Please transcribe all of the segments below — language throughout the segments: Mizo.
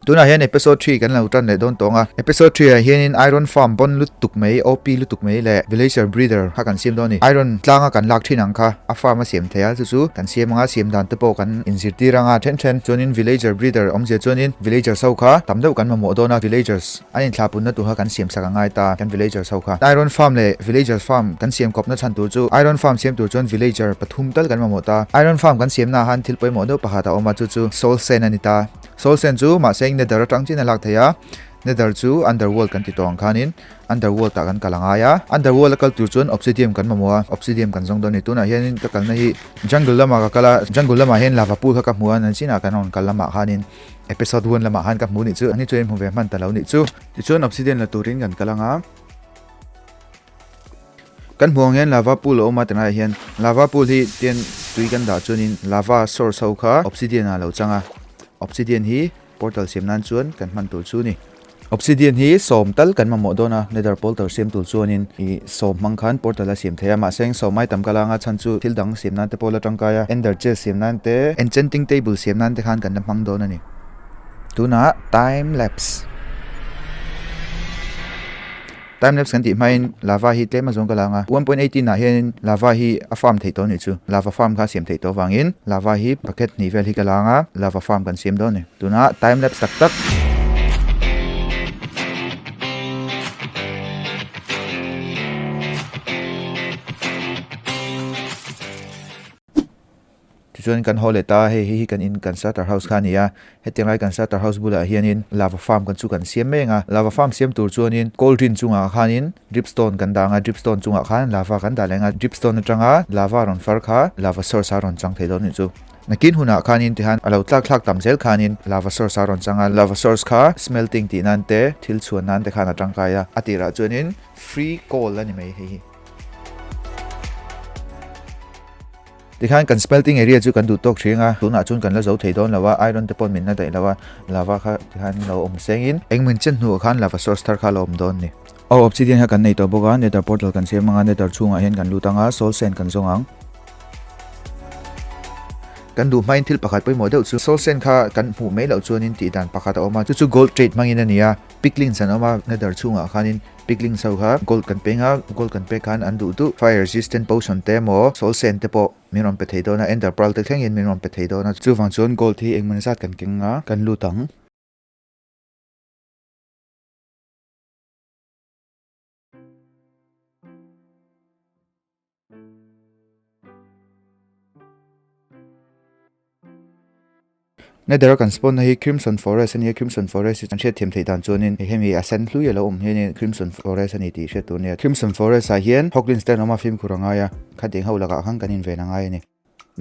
Tunah hian Episode Three kan lo tan leh dawn tawng a, Episode Three ah hianin Iron Farm bawn lutuk mai, OP lutuk mai leh Villager Breeder kha kan siam dawn a ni. Iron tlanga kan lak thin ang kha a farm a siam theih a, chu chu kan siam anga siam dan te pawh kan inzirtir anga then then chuanin Villager Breeder awmzia chuanin Villagers ho kha tam deuh kan mamawh dawn a, Villagers. An inthlapunna tu kha kan siamsak a ngai ta kan villager ho kha. Iron Farm leh Villagers Farm kan siam kawpna chhan tur chu Iron Farm siam tur chuan villager pathum tal kan mamawh ta. Iron Farm kan siamna ah han thil pawimawh deuh pakhat a awm a chu chu Soul Sand a ni ta. Soul Sand chu mahse in Nether atang chiahin a lak thei a. Nether chu Underworld kan ti tawh ang khan in Underworld ah kan kal a ngai a. Underworld a kal tur chuan Obsidium kan mamawh a. Obsidium kan zawng dawn a ni. Tunah hian in ka kalna hi Jungle lamah ka kal a. Jungle lamah hian lava pool kha ka hmu a. Nansina kan rawn kal lamah khan in Episode one lamah han ka hmu nih chu ani chu i hmu ve hman ta lo nih chu. Tichuan obsidian la turin kan kal anga. Kan hmu ang hian lava pool a awm a tilai ah hian lava pool hi tian tui kan dah chuanin lava source ho kha obsidian ah lo chang a. Obsidian hi portal siam nan chuan kan hman tur chu ni. Obsidian hi sawm tal kan mamawh dawn a, Nether Portal siam tur chuanin i sawm hmang khan Portal a siam thei a, mahse eng sawm ai tam ka langa chhan chu thil dang siam nan te pawh la tangkai a, Ender Chest siam nan te, Enchanting Table siam nan te khan kan la hmang dawn a ni. Tunah Time Lapse. Time lapse kan tih hmain lava hi tlem azawng ka la ang a, one point eighteen ah hianin lava hi a farm theih tawh a nih chu, lava farm kha a siam theih tawh avangin lava hi pakhat hnih vel hi ka la ang a, lava farm kan siam dawn a ni. Tuna time lapse tak tak. Tichuan kan haw let a, hei hi hi kan in kan starter house kha a ni a, hetiang lai kan starter house bulah hianin lava farm kan chu kan siam mai ang a, lava farm siam tur chuanin cauldron chungah khanin drip stone kan dah ang a, drip stone chungah khan lava kan dah leh ang a, drip stone atanga lava rawn far kha lava source a rawn chang thei loh ni chu. Nakin hunah khanin tihan a lo tlak thlak tam zel khanin lava source a rawn chang a, lava source kha smelting tih nan te thil chhuan nan te khan a tangkai a, a tirah chuanin free coal a ni mai hei hi. Tikhan kan spelting area chu kan duhtawk thin a, tunah chuan kan la zo thei dawn lo a, iron te pawh min la daih lo a, lava kha tikhan min lo awm seng in, eng min chet hnuah khan lava source thar kha lo awm dawn ni. Aw, obsidian kha kan nei tawh bawk a, nether portal kan siam anga nether chhungah hian kan lut anga soul sand kan zawng ang. Kan duh hmain thil pakhat pawimawh deuh chu soul sand kha kan hmuh mai loh chuanin tih dan pakhat a awm a, chu chu gold trade hmangin a ni a, Pickling san awm a, na dar chhungah khanin pickling sau kha gold kan peng a, gold kan pek khan an duh duh, fire resistant potion te emaw sawl sen te pawh min rawn pe thei dawn a, ender pearl te thlengin min rawn pe thei dawn a, chuvang chuan gold hi engmah zat kan keng anga kan lut ang. Nether a kan spawn na hi Crimson Forest a ni a, Crimson Forest hi kan hriat thiam theih dan chuanin hei hemi a sen hlui a lo awm hi hianin Crimson Forest a ni tih hriat tur a ni a, Crimson Forest ah hian Hoglins te an awm a, fimkhur a ngai a, khadeng ho lakah khan kan inven a ngai a ni.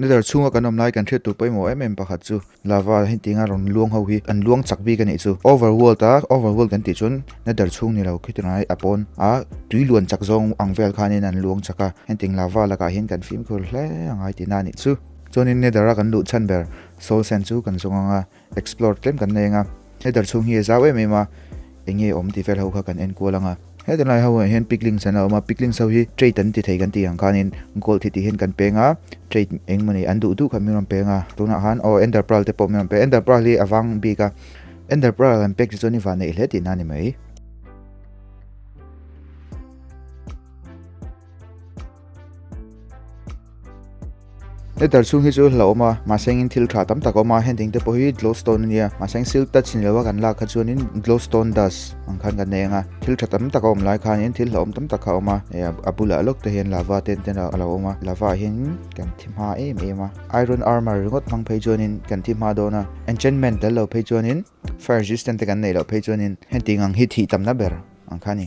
Letter chhunga kan awm lai kan hriat tur pawimawh em em pakhat chu Lava a heti nga rawn luang ho hi kan luang chak bik a nih chu. Over world a over world kan tih chuan nether chhung ni lo khitirawn ai a pawn a tui luan chak zawng ang vel khanin an luang chak a hetiang Lava lakah hian kan fimkhur hle a ngai tina a nih chu. Chuanin nether a kan luh chhan ber soul sand chu kan zawng anga Explore tlem kan la eng a, he dar chhung hi a zau em em a, eng nge a awm tih vel ho kha kan enkual ang a. Heta lai ho ah hian picklinks an la awm a, picklinks ho hi trait an ti thei kan tih ang khanin gold hi tih hian kan peng a, trait eng mawni an duh duh kha min rawn peng a, tunah khan aw ender pearl te pawh min rawn peng a, ender pearl hi a vang bik a, ender pearl kan pek hi chuan i vah neih hle tihna a ni mai. letter chhung hi chu hla awm a mahse engin thil tha tam tak a awm a heng ding te pawh hi glow stone a nia mahse eng silk touch ni loh a kan lak kha chuanin glow stone dust ang khan kan nei ang a thil tha tam tak a awm lai khanin thil hla awm tam tak kha a awm a e a bulah lawk te hian lava ten ten a lo awm a lava ah hian kan thi hma em em a iron armour ringawt hmang phei chuanin kan thi hma dawn a enchantment lal lo phei chuanin fire resistant te kan nei loh phei chuanin heng ting ang hi thih tam na ber ang kha a ni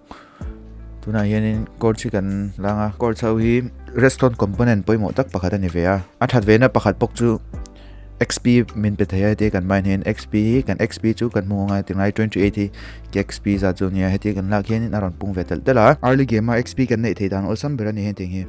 tunah hianin core chi kan langa core chau hi redstone component pawimawh tak pakhat ani ve a a that vena pakhat pawk chu xp min pe thei a heti kan mine hian xp hi kan xp chu kan hmu ngai tingai 28 hi ke xp za chu nia heti kan lak hianin a rawn pung ve tel tel a early game a xp kan neih thei dan awlsam ber ani hetiang hi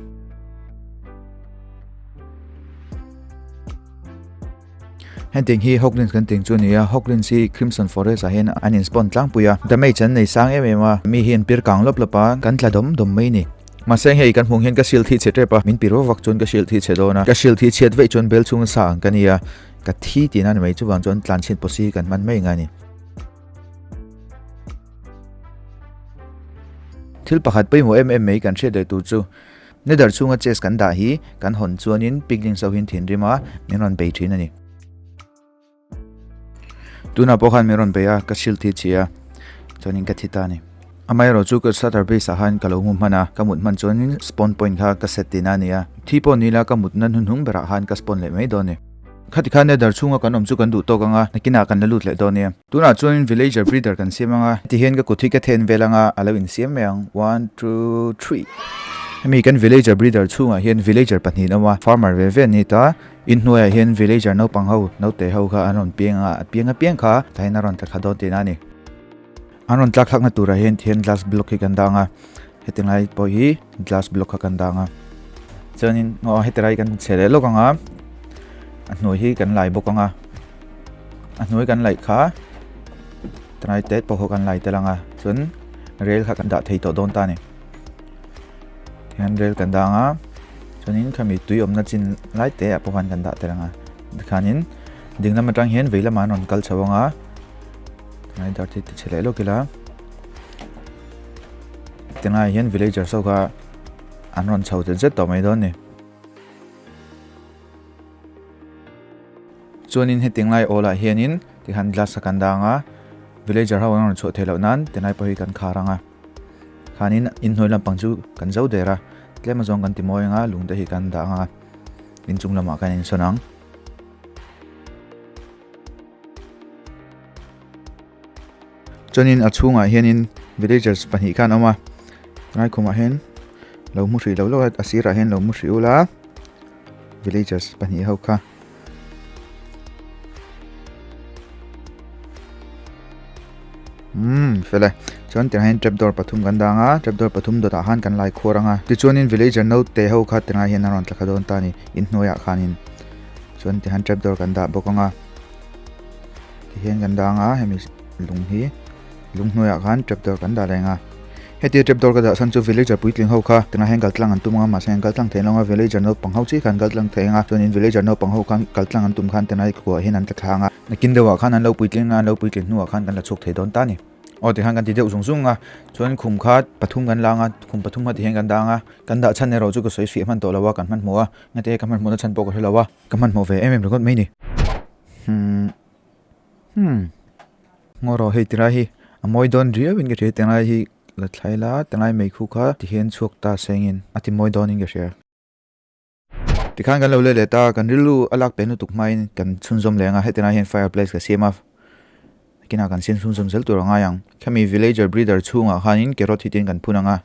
Henteng hi Hawklins kan tih chu nia, Hawklins hi Crimson Forest ah hian an in spawn tlangpui a, damage an nei sang em em a, mi hi an pir kang lawp lawp a, kan tla dawm dawm mai ni. Mahse hei kan hmuh hian ka hrilh thih chhe tep a, min pi ro vak chuan ka hrilh thih chhe dawn a, ka hrilh thih chhiat veih chuan bel chhung sa ang ka nia, ka thi tih na ni mai chuvang chuan tlan chhin pawh si kan hman mai nga ni. Thil pakhat pawimawh em em mai kan hriat leh tur chu. Nether chhunga chest kan dah hi kan hawn chuanin piglin sawiin thinrima min rawn bei thin a ni. Tunah pawh khan min rawn bei a, ka shield hi chhi a, chuanin ka thi ta a ni. Amaherawh chu ka starter base ah khan ka lo hmu hman a, ka mut hman chuanin spawn point kha ka set tina a ni a. Thi pawh nila ka mutna hnuhnung berah khan ka spawn leh mai dawn a ni. Khati khan e, dar chhunga kan awm chu kan duh tawk ang a, nakinah kan la lut leh dawn nia. Tunah chuan villager breeder kan siam ang a, tihian ka kut hi ka then vel anga a lo insiam mai ang, one two three. Hemi kan villager breeder chhungah hian villager pahnihin a awm a, farmer ve ve an ni ta, in hnuaiah hian villager naupang ho, naute ho kha an rawn piang anga a piang a piang kha tlaiin a rawn ta thla dawn teh na a ni. An rawn tlak thlakna turah hian thian glass block hi kan dah ang a, heti ngai pawh hi glass block kha kan dah ang a. Chuanin aw heti rai kan chhe leh lawk ang a, a hnuai hi kan lai bawk ang a, a hnuai kan laih kha tangai te pawh ho kan lai tel ang a, chuan rail kha kan dah thei tawh dawn ta ni. Thian rail kan dah ang a, chuanin khami tui awmna chin lai te a pawh han kan dah tel ang a, tikhanin dinglam atang hian veilam an rawn kal chho ang a, Ngai dar ti che leh lawk ila. Tengai hian villager sau kha an rawn chho zet zet tawh mai dawn ni. Chuanin he tengai ola hianin tihan glass a kan dang a. Villager ho an rawn chho thei loh nan tengai pawh hi kan khar ang a. Khanin inhnuai lampang chu kan zo der a. Tlem azawng kan ti mawi anga lungte hi kan dah ang a. Inchung lamah kan insawn ang. chuanin a chhungah hianin villagers pahnih khan an awm a ngai khawmah hian lo hmu hrih loh loh a a sirah hian lo hmu hrih ul a villagers pahnih ho kha umm fele chuan tirah hian trapdoor pathum kan dang a trapdoor pathum dawtah khan kan laikhuar ang a tichuanin villager naute ho kha tirah hian an rawn tla kha dawn ta a ni inhnuaiah khanin. chuan tihian trap door kan dah bawk anga tihian kan dah anga hemi lung hi lung hnuaiah khan trap door kan dah leh anga heti trap door ka dah san chu villager puitling ho kha tunah hian kaltlang an tum anga mahse an kaltlang theih loh anga villager naupang ho chi khan kaltlang thei anga chuan in villager naupang ho khan kaltlang an tum khan tunah hi ka kuah hian an ta thla anga nakin deuhah khan an lo puitling anga an lo puitling hnuah khan kan la chhuak thei dawn ta ni aw tikhan kan ti deuh zung zung a chuan khum kha pathum kan la anga khum pathum kha tihian kan dah anga kan dah chhan erawh chu ka sawi fiah hman tawh lo a kan hman hmawh a Ngate ka hmanhmawhna chhan pawh ka hre lo a, ka hmanhmawh ve em em ringawt mai ni. Hum. Hum. Ngaw rawh, hei tilai hi a mawi dawn riauin ka hria a, tilai hi la thlai la, tilai mai khu kha tihian chhuak ta sengin a timawi dawnin ka hria. Tikhan kan lo let let a, kan rilru a lak peng lutuk hmain kan chhunzawm leh ang a, hetilai hian fireplace ka siam a, kinah kan sin chhunzawm zel tur a ngai ang. Khami villager breeder chhungah khanin carrot hitin kan phun ang a.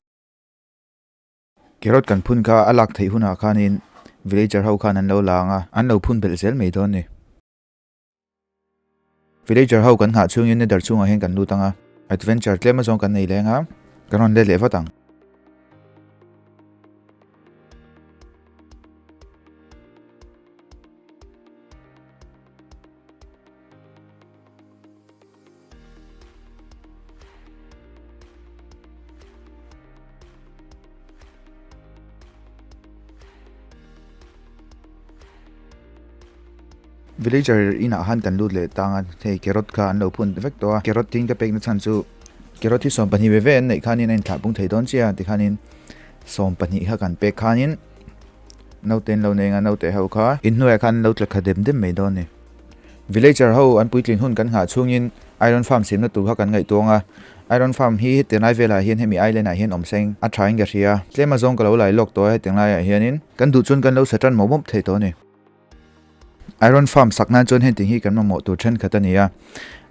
Carrot kan phun kha a lak theih hunah khanin villager ho khan an lo lang a, an lo phun belh zel mai dawn ni. Villager ho kan nghah chungin Nether chhungah hian kan lut ang a, adventure tlem azawng kan nei leng a, kan rawn let leh vat ang. Villager inah han kan lut leh tang a, hei carrot kha an lo phun ta vek tawh a, carrot tin ka pekna chhan chu carrot hi sawm pahnih ve ve an neih khanin a inthlah pung thei dawn chiah a tikhanin sawm pahnih kha kan pek khanin naute an lo nei anga naute ho kha inhnuaia khan an lo tla kha dem dem mai dawn a ni. Villager ho an puitlin hun kan nghah chungin Iron Farm simna tur kha kan ngaihtuang a. Iron Farm hi heti ngai velah hian hemi island ah hian awm sa in a tha enga hria. Tlema zawng ka lo lai lawk tawh a heti ngai ah hian in kan duh chuan kan lo sa tan mawp mawp thei tawh a ni. Iron Farm sak nan chuan heti hi kan mamawh tur thenkhat a ni a,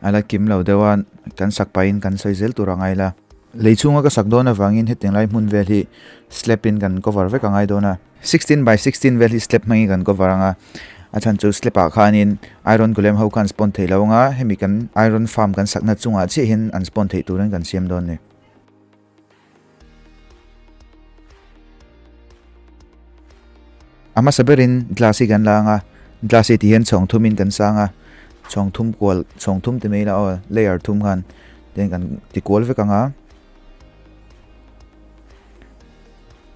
a la kim lo deuh a, kan sak pai in kan sawi zel tur a ngai la. Lei chhung a ka sak dawn avangin heti ngai hmun vel hi slab in kan cover vek a ngai dawn a. Sixteen by sixteen vel hi slab hmangin kan cover anga a chhan chu slab ah khanin iron golem ho khan spawn thei lo anga hemi kan iron farm kan sakna chungah chiahin an spawn theih turin kan siam dawn ni. A hmasa berin glass hi kan la anga glass hi tihian chhawng thumin kan sa anga chhawng thum kual chhawng thum te mai la aw layer thum khan ten kan ti kual vek anga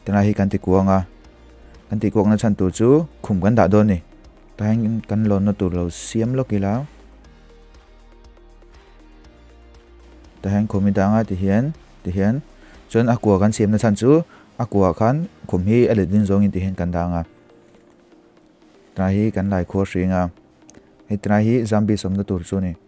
Tunah hi kan ti kuang a, kan ti kuakna chhan tur chu khum kan dah dawn ni. Tain kan lawnna tur lo siam lawk ila. Tahin khum i danga ti hian, ti hian. Chuan a kua kan siamna chhan chu a kua khan khum hi a let ding zawngin ti hian kan dang a. Tunah hi kan Laikhuar hringa, hei tunah hi Zambia sawmna tur chu ni.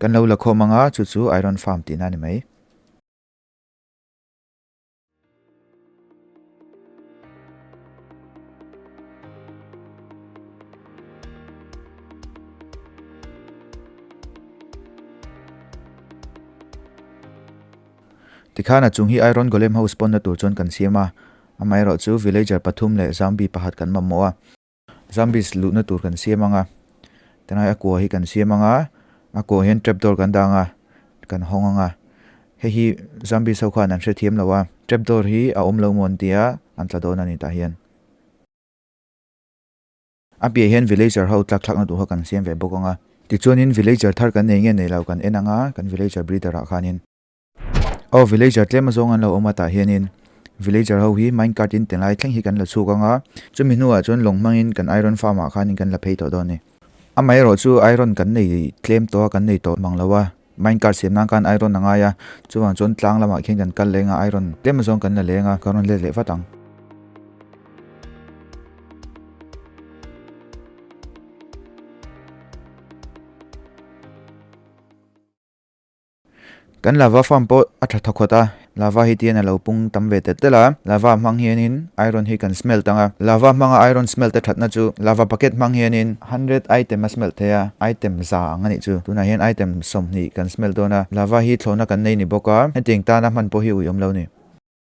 Kan lo la khawm ang a, chu chu iron farm tihna a ni mai. Tikhan a chung hi iron golem ho spawn na tur chuan kan siam a, amaherawhchu villager pathum leh zombie pakhat kan mamawh a. Zombies luhna tur kan siam anga, tunai a kua hi kan siam anga, a kua hian trapdoor kan dang a, kan hawng anga, hei hi zombies ho khan an hre thiam lo a, trapdoor hi a awm lo maw an tia an tla dawn a ni tah hian. A piahah hian villager ho tlak thlakna tur ho kan siam ve bawk anga. Tichuanin villager thar kan nei nge nei lo kan en anga, kan villager breeder ah khanin. Aw villager tlema zawng an lo awm a tah hianin villager ho hi mine cart in te lai thleng hi kan la chhuk ang a, chumi hnuah chuan lawng hmangin kan iron farm ah khanin kan la phei tawh dawn a ni. Amaherawh chu iron kan nei tlem tawh a, kan nei tawh hmang lo a, mine cart siam nan khan iron a ngai a, chuvang chuan tlang lamah khian kan kal leng a, iron tlema zawng kan la leng a, kan rawn let leh vat ang. Kan lava farm pawh a tha tha khawt a, lava hi tian a lo pung tam ve tel tel a, lava hmang hianin iron hi kan smelt ang a, lava hmanga iron smelt a thatna chu lava bucket hmang hianin hundred item a smelt thei a, item za ang a nih chu, tunah hian item sawmhnih kan smelt dawn a, lava hi thlawhna kan nei ni bawk a, hetiang tana hman pawh hi uiawm lo ni.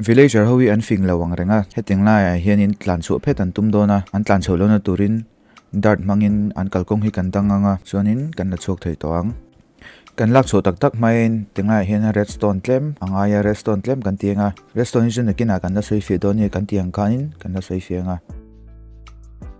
Villager ho hi an fing lo ang reng a, hetiang laiah hianin tlan chhuah phet an tum dawn a, an tlan chhoh lohna turin dart hmangin an kalkawng hi kan dang ang a, chuanin kan la chhuak thei tawh ang. Kan lak chhuah tak tak hmain tinglaiah hian redstone tlem a ngai a, redstone tlem kan ti ang a, redstone hi chu nakinah kan la sawi fiah dawn a ni, kan tih ang khanin kan la sawi fiah ang a.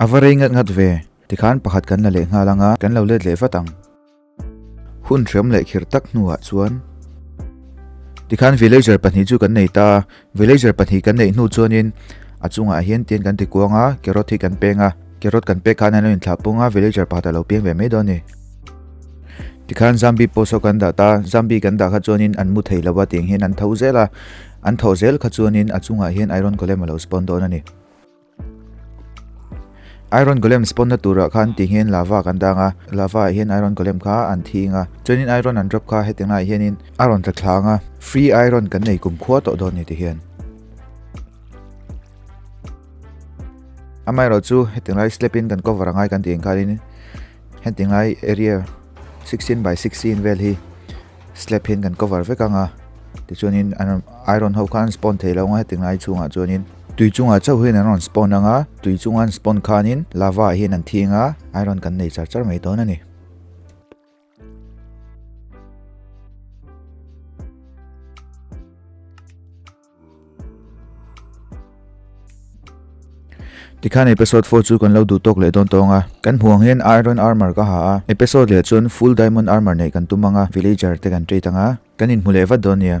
A va rei ngat ngat ve, tikhan pakhat kan la leh nghal anga kan lo let leh vat ang. Hun hriam leh khir tak hnuah chuan tikhan villager pahnih chu kan nei ta a, Villager pahnih kan neih hnu chuanin a chungah hian tian kan ti kuang a, Carrot hi kan peng a, Carrot kan pek khan an lo in thlah pung a, Villager pakhat a lo piang ve mai dawn ni. Tikhan Zambi pawh saw kan dah ta, Zambi kan dah kha chuanin an mu thei lo a tiang hian an tho zel a, an tho zel kha chuanin a chungah hian Iron Golem a lo spawn dawn a ni. Iron Golem spawn na turah kha an tihngin lava kan dang a, lava-ah hian Iron Golem kha an thing a, chuanin Iron an drop kha hetiang laiah hianin a rawn tla thlang a, free Iron kan nei kum khua tawh dawn ni tihian. Amaherawh chu hetiang lai slab-in kan cover a ngai kan tih ang khanin hetiang lai area sixteen by sixteen vel hi Slab hian kan cover vek anga, tichuanin an rawn ai rawn ho khan an spawn thei lo anga heti ngai chungah chuanin tui chungah chauh hian an rawn spawn anga, tui chunga an spawn khanin lava ah hian an thi anga ai rawn kan nei char char mai dawn a ni. Tikhan episode four chu kan lo duh tawk leh dawn tawng a, kan hmu ang hian iron armour ka ha a, episode leh chuan full diamond armour neih kan tum ang a, villager te kan treat ang a, kan inhmu leh vat dawn nia.